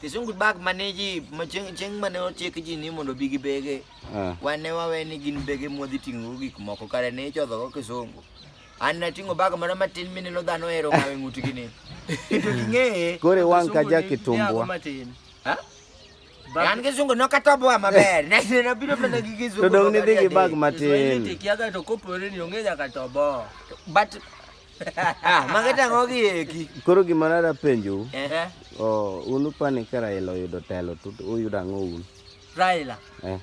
Kisungu bag mane ji ma chieng' chieng' mane ochik ji ni mondo bi gi bege. Ah. Wan ne wawe ni gin bege mwadhi ting'o gik moko kare ne ichodho go kisungu. An nating'o bag moro matin mine lo dhano ero kawe ng'utgi ni. To ging'eye. Koro iwang' ka ja kitumbwa. Ha? An kisungu nokatoboa maber. Ne ne nabiro mana gi kisungu. To dong' nidhi gi bag matin. Tikiaga to kopore ni ong'e nyaka tobo. But Ah, Mage tang'o gi eki. Koro gima nada penjou, Ehe. oh, un upani ka Raila oyudo telo to uyudo ang'o un? Raila. Eh,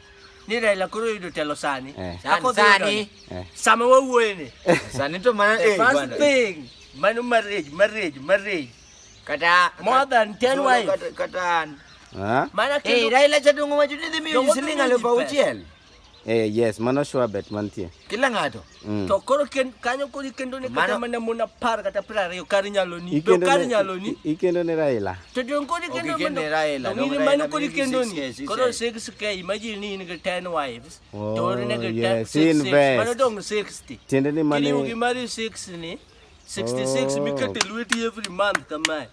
Ni Raila koro oyudo telo sani. Eh. Sani, Ako dhi yudo sani. ni. eh. Sama wawuoye ni. Sani to mana The eh first bwana. thing. Mano marriage, marriage, marriage. Kata More than 10 Solo wives. kata- Kata an. Ah? Mana Eh, kendo Raila chadongo wacho ni dhi miyo Dongo ji siling' dhi miyo ji aluf pesa. auchiel. Eh, yes, mano sure bet mantie. Kila ng'ato. Mm. To koro ken, kanyo kodi kendo ne kata mana mon apar kata piero ariyo kar nyalo ni. Be kar nyalo ni. Ikendo ne Raila. To don kodi kendo okay, ne Raila. No, mano kodi kendo ni. Koro 6k imagine ni in 10 wives. Oh, to ne ga yes, 10 six. Mano dong 60. Tiende ni mane. Kini ugi mari 6 ni. 66 oh. mikete lweti every month kamae.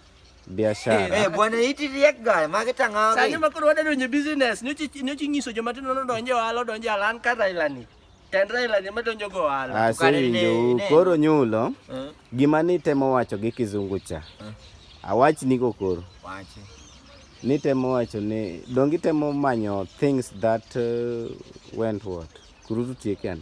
biashara. Eh, bwana iti riek guy, mage tang'awa. Sani ma koro wadadonje business, nyochi nyochi nyiso joma tindo no donje ohala, donje alan ka Raila ni. Tend Raila ni madonjo go ohala. Ah, so winjo, koro nyulo. Eh. Gima ni temo wacho gi kizungu cha. Eh. Awach ni go koro. Wache. Ni temo wacho ni dongi temo manyo things that uh, went what. Kurutu tieke ana.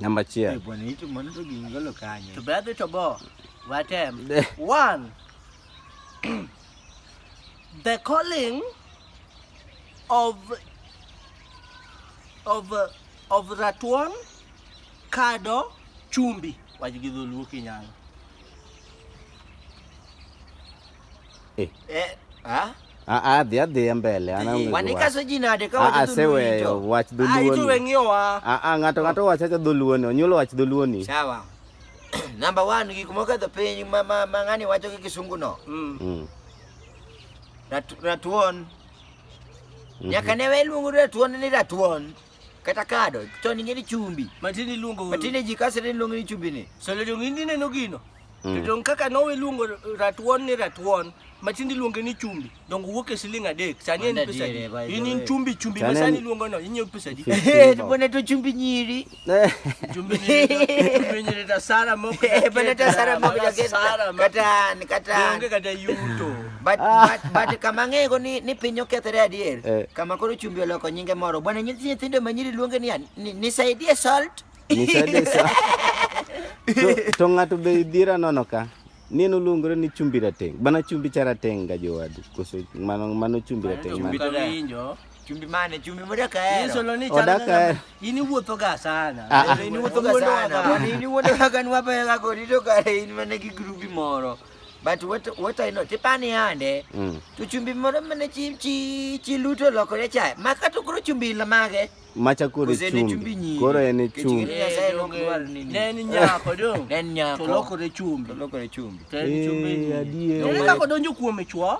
Namba achiel. Eh, bwana hicho mwana to gingolo kanyo. To bedhi to bo. Watem. One. the calling of of of Ratuon Kado Chumbi. Wajigidholuo Kinyalo. Eh. Eh, ah? Ah, ah, dhia dhia mbele ana ungejua. Wanikaso jina de kawa ah, se weyo wach dhuluoni. Ah, itu wengio wa. Ah, ah, ng'ato ng'ato wacha cha dhuluoni, onyulo wach dhuluoni. Sawa. Number 1 gik moko dho piny ma ma ng'ani wacho gi kisungu no. Mm. mm. Ratuon. Mm-hmm. Nyaka ne weluongo ratuon ni ratuon. kata kado chon ing'e ni chumbi matin iluongo matin ji kase ni luongo ni chumbi ni so le dong indi neno gino mm. to dong kaka nowe luongo ratuon ni ratuon matin iluongo ni chumbi dong wuok e siling adek sani en pesa di in in chumbi chumbi ma sani iluongo no inyiew pesa di eh to bone to chumbi nyiri chumbi nyiri chumbi nyiri ta sara moko eh bone ta sara moko kata kata onge kata yuto But, ah. but, but kama ang'ego ni, ni piny okethre adier eh. kama koro chumbi oloko nyinge moro bwana nyithi nyithindo manyiri luonge niya nisaidie salt nisaidie salt to, to ng'ato be idhiera nono ka ni noluongore ni chumbi rateng' bana chumbi cha rateng' ga jowadu koso mano mano chumbi rateng' chumbi to winjo chumbi mane chumbi moda kaero yeso lo ni oda kaero ini wuotho ga sana ah, ah. ini wuotho ga sana ini wuotho ga kan wape ga ko rito kare in mane gi grupi moro but what what I know tipani ande mm. to chumbi moro mane chi chi chi luto lokore cha maka to koro chumbi la mage macha koro chumbi koro en chumbi ne en nyako do ne en nyako to lokore chumbi to lokore chumbi to en chumbi eh, adier ne ka donjo kuome chwo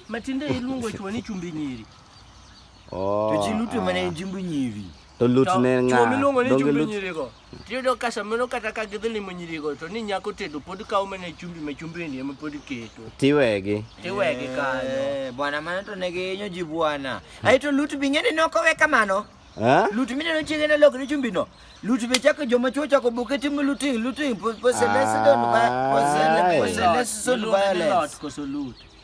matinde iluongo chwo ni chumbi nyiri oh to chi luto mane ah. chumbi nyiri to lut ne nga donge lut Tiyudo ka samoro kata ka gidhi limo nyirigo to ni nyako tedo pod kawo mana chumbi ma chumbini ema pod keto. Tiwegi. Tiwegi kanyo. Eh, bwana mano to ne gihinyo ji bwana. Aye to Lut bi ng'eni nokowe kamano. Eh? Lut mineno chiege ne lokre chumbino. Lut be chako joma chuo chako buke timo looting, looting, possession, possession, possession, violence.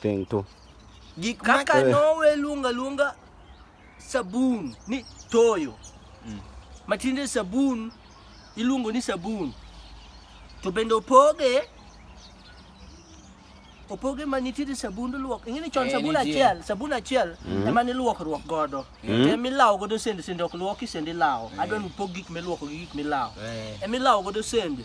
Thing to. Gik ma Kaka Eh. nowe luonga luonga sabun ni toyo. Matinde sabun iluongo ni sabun. To bende opoge opoge ma nitiere sabund luok. Ing'e ni chon Eh, sabun nitie. achiel, sabun achiel ema ne luokruok godo. Ema ilawo godo sende, sende ok luoki, sende ilawo. Adwa ni upog gik miluoko gi gik milawo. Eh. Ema ilawo godo sende.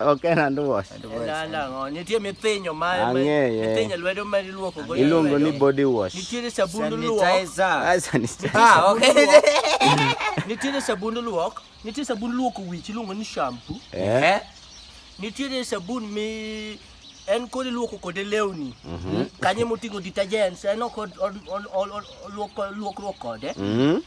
Ok en hand wash. Na na ngo, nitie mithinyo ma ma- Ang'eye. mithinyo lwedo ma iluoko go. Iluongo ni body wash. Nitiere sabund luok, Sanitizer. Ah, sanitizer. Ah, okay. nitiere sabund luok, nitie sabund luoko wich iluongo ni shampoo, Eh? Eh? nitiere sabun mi en kod iluoko kode lewni kanyo emoting'o detergents en ok od- od- od- od- luoko- luokruok kode Mm.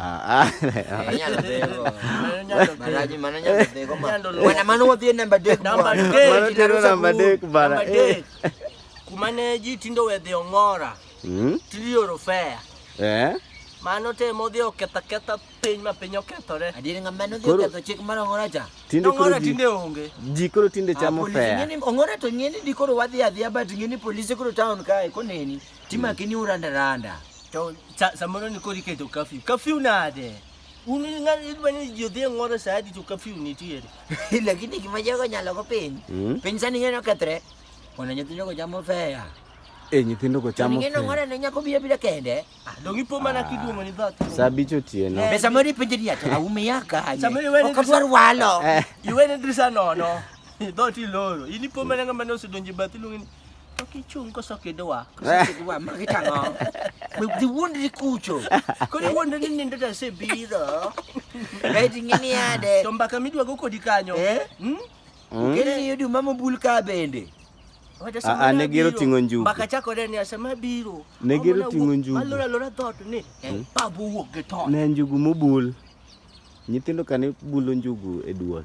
Ah, ah. Eh, nyalo dhego. Maraji mano nyalo dhego ma. Nyalo luwo. Wana mano wadhi e namba adek. Namba bwana. adek. Mano Jina tero Rosa namba Guru. adek bana. Namba adek. Kuma ne ji tindo we dhi ong'ora, Hmm? tiri oro fea. Eh? Mano temo dhi oketho aketha piny ma piny okethore. Adier nga mano dhi Koro- oketho chik mar ong'ora cha. Tinde koro Ong'ora ji tinde onge. ji koro tinde chamo Polisi fea. ng'eni ong'ora to ng'eni di koro wadhi adhiya but ng'eni polisi koro town kae koneni timaki ni urandaranda. To sa samoro ni kori keto curfew. Curfew nade? Un ng'at idwa ni ji odhi e ng'oro sa adi to curfew nitiere. Lakini gima jogo nyalo go piny. Mm. Piny sani ng'eno kethre. Ona nyithindo go chamo fea. E nyithindo go chamo. Ng'eno ng'ore ne nyako bia bila kende. Ah, dong ipo mana ah. kiduomo ni dhoot. Sa bicho tieno. Eh, Pesa mori penje ni ato aume yaka. Samoro iwe ni drisano. walo. Eh. Iwe ni drisano no. Dhoot iloro. Ini po mana ng'ama ne osedonje bathi lung'ini. To kichung' koso kidwa, koso kidwa ma kitang'o. Be dhi wuondri kucho. Koro iwuondri ni nindo to asebidho. Kaito ing'e ni ade. To mbaka midwa go kodi kanyo. Eh? Hmm? Mm. Kendo ni yudu mamo bul ka bende. Wacha Ah, sama ah, ne gero nabiro, ting'o njugu. Mbaka chakore ni asema biro. Ne gero Amona ting'o wuok- njugu. Alora alora dhot ni. Eh, babu wuok gi ton. Ne njugu mobul. Nyithindo kane bulo njugu e duol.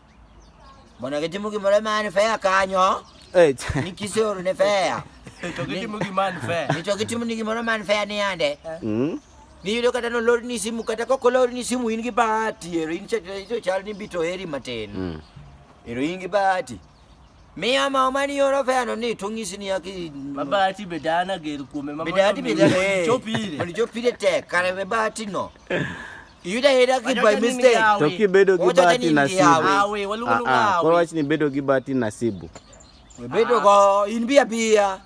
Bona ke timu gimore mani fea kanyo. Eh, Ni kisoro ne fea. To gitimo gima ni fair. Ni to gitimo ni gimoro man fea ni ande. mm. Niyudo kata nolor ni simu kata kok olor ni simu in gi bahati ero in chal to chal ni bito heri matin. Mm. Ero in gi bahati. Miya ma omani yoro fea no ni to ng'isi ni aki. Mabati be dana ger kuome ma Bedati mondo bedati. mi Chopire. Mondo chopire tek kare be bahati no. Yuda hera ki by mistake. To ki bedo gi bahati nasibu. Ah, ah, kwa wach ni bedo gi bahati nasibu. We bedo go in bia bia.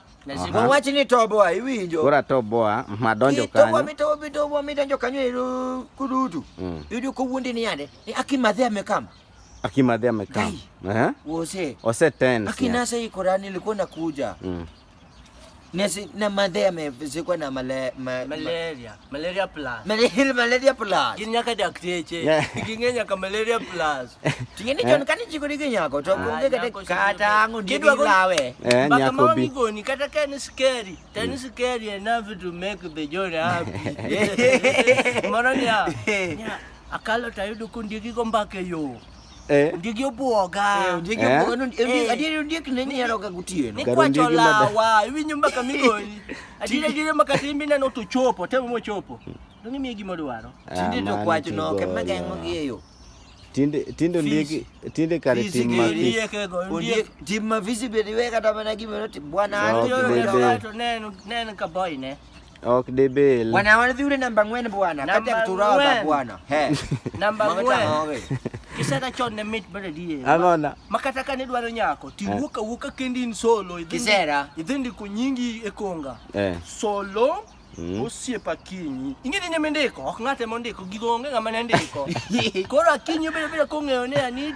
Kwa wach ni toboa iwinjo. Kora toboa madonjo kanyo. Toboa mito mito wa mito njo kanyo iru kudutu. Mm. Idu ko wundi ni yande. Ni akimadhi amekam. Akimadhi amekam. Eh? Wose. Ose tena. Akinasa hii Qurani ilikuwa nakuja. Mm. Na si na madhe amezikwa na male, ma, malaria malaria plus malaria malaria plus ginya ka dakteche gingenya ka malaria plus tingeni jon kani jikoni ginyako to kunge kata kata angu ndi lawe eh nyako bi goni kata kani scary tani mm. scary enough to make the journey happy mara nya akalo tayudo kundigi go mbake yo Eh. Ondiegi obuoga. Eh, ondiegi Eh. obuoga. non- ondi- Eh. Adieri ondiek ne ni hero ga gotieno. Ni Kar kwacho ondiegi mada- lawa, iwinjo mbaka migoni. Adieri adieri mbaka timbi neno to chopo, temo mochopo. Donge imiye gima odwaro. Ah, Tinde to mano kwach to no, kema golo. geng'o gi e yo. Tinde tinde ondiegi tinde kare Fisi tim gi mafis. Ondiek ego, ondiek. Ondiek, tim ma visi bende iwe kata mana gima noti- bwana, No, Adieri bebe. obuoga to neno- neno ka boy ne. Ok de bel. Bwana wale yule namba ngwen bwana. Kati ya kuturaba bwana. He. Namba ngwen. Kisa ta chon ne mit bale die. Angona. Makata kane dwaro nyako. Ti eh. wuka wuka kendi in solo. Kisera. Idhindi kunyingi ekonga. Eh. Solo. Mm. Osiepe Akinyi. Ing'e ni nyamendeko, ok ng'ate mondiko, gigo onge ng'ama ne ndiko. Koro Akinyi obedo bedo kong'eyo ne ani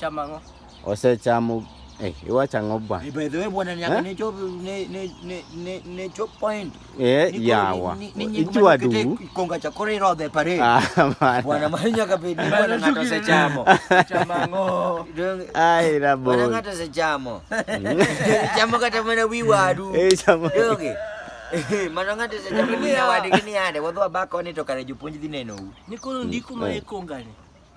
Chama ngo. Osechamo eh iwacho ang'o bwana? Eh, by the way bwana nyaka eh? ne chop ne ne ne ne chop point. Eh yawa. Ichwa du. Konga cha kore ro de pare. Ah, bwana mali nyaka be ni bwana ngata se chamo. Chama ngo. Ai la bo. Bwana ngata se chamo. Chamo kata mwana wiwa du. Eh chamo. Yoge. Eh, mano ng'ato osejapo ni awadgi ni yande wadhi wabak koni to kare jopuonj dhi nenou. Ni koro ndiko ma ikongani.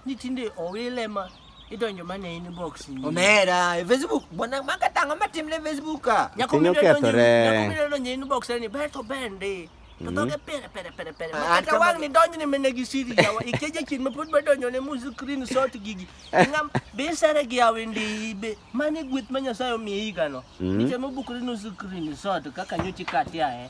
Ni tinde owile ma idonjo mana e inbox ni. Omera, e Facebook, bwana maka tango matim ne Facebook ka. Nyako Piny mine donjo, okethore. nyako mine donjo e inbox ni ber to bende. To dhoge pere pere pere pere. Ah, Makata kama- wang' ni donjo ni mene gi siri jawa. Ikeje chin ma pod badonjo ne mu screen shot gigi. Ngam be sare gi awende ibe. Mane gweth ma Nyasaye omiyi higano. Mm. Nichemo bukri nu screen shot kaka nyochi katia eh.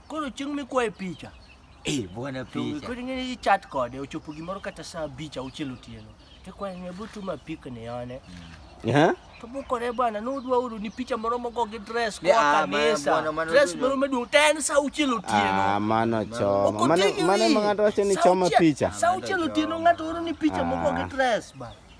Koro chieng' mikwaye picha. Eh, bwana picha. Koro ing'e ni chat kode ochopo gimoro kata saa abich auchiel otieno. Tikwaye ng'e butuma pik ni one. Eh? To bukore bwana nudwa uru ni picha moro mogo gi dress kwa ah, kanisa. Dress moro maduong' to en saa auchiel otieno. Ah, mano choma. Mano mano ng'ato wacho ni choma picha. Saa auchiel otieno ng'ato oro ni picha mogo gi ah. dress ba.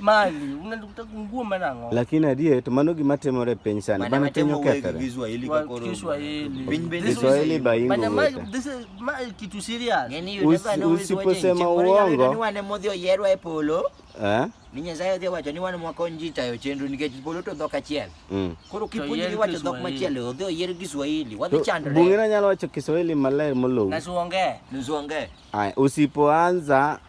mali unataka kungua manango lakini adie to mano gima timore piny sana bana piny okethore Kiswahili ka koro Kiswahili piny bende Kiswahili baingo bana ma this is ma kitu serious yani you never know usiposema uongo ni wane modhi oyerwa e polo eh ni nyasaye odhi wacho ni wan mwako nji tayo chenro nikech polo to dhok achiel mm. koro kipuonjri wacho dhok machielo odhi oyier kiswahili wadhi chandre bung'ina nyalo wacho kiswahili maler molowi nasuonge nasuonge usipoanza